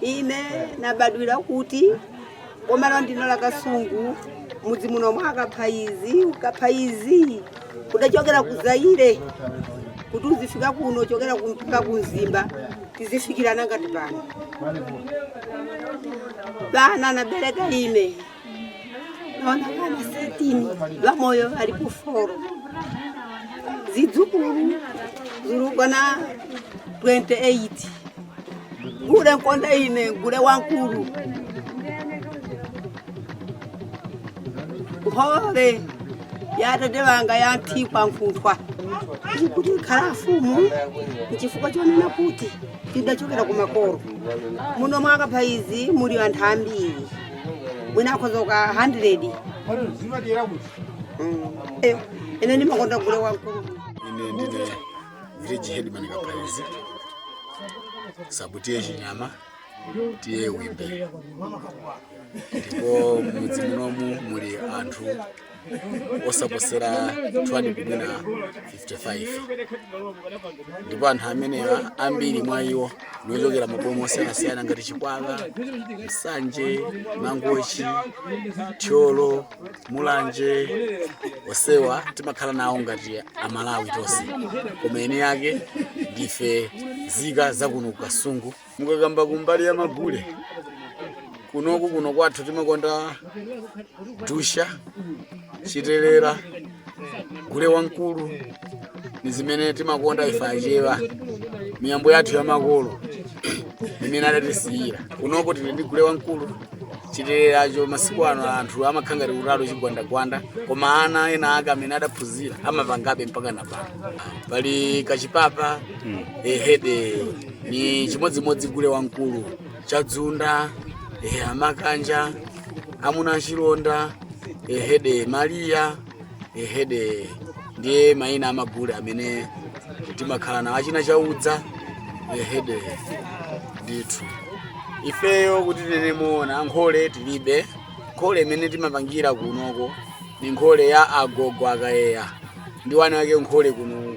ine nabadwira kuti boma la ndino la kasungu mudzi muno mwa kaphaizi kaphaizi kudachokera ku zaire kuti tizifika kuno chokera kumfika ku mzimba tizifikirana ngati pano bana nabereka ine Wana wanakwana satini bamoyo bali ku foro zidzukulu ziliko na 28 gule nkonda ine ndi gule wamkulu hore yatate wanga yanthikwa nkhunthwa kuti nikhala mfumu nchifukwa chonena kuti tidachokera kumakolo muno mwa kaphaizi muli anthu ambiri mwina akhoza kukwana 100 Mm. Eh, ine ndimakonda gule wamkulu ine ndine village headman kaphaizi sabu tiye chinyama tiye wimbe ndipo mudzi munomu muli anthu osaposera 200 kumwina 55 ndipo anthu amenewa ambiri mwa iwo ndi ochokera maboma osiyanasiyana ngati chikwawa nsanje mangochi thyolo mulanje onsewa timakhala nawo ngati amalawi tonse koma eni ake ndife zika zakuno ku kasungu mukakamba kumbali ya magule kunoku kuno kwathu timakonda dusha chitelera gule wamkulu ni zimene timakonda ife achewa miyambo yathu ya makolo imene adatisiyira kunoko tili ndi gule wamkulu chiteleracho masiku ano anthu amakhala ngati kutalo chigwandagwanda koma ana ena ake amene adaphunzira amapangabe mpaka na pano pali kachipapa ehede ni chimodzimodzi gule wamkulu chadzunda ehe amakanja amuna achilonda ehede maliya ehede ndiye mayina amagule amene timakhala nawo achina chaudza ehede ndithu ifeyo kuti tinene moona nkhole tilibe nkhole imene timapangira kunoko ni nkhole ya agogo akayeya ndi wana wake nkhole kuno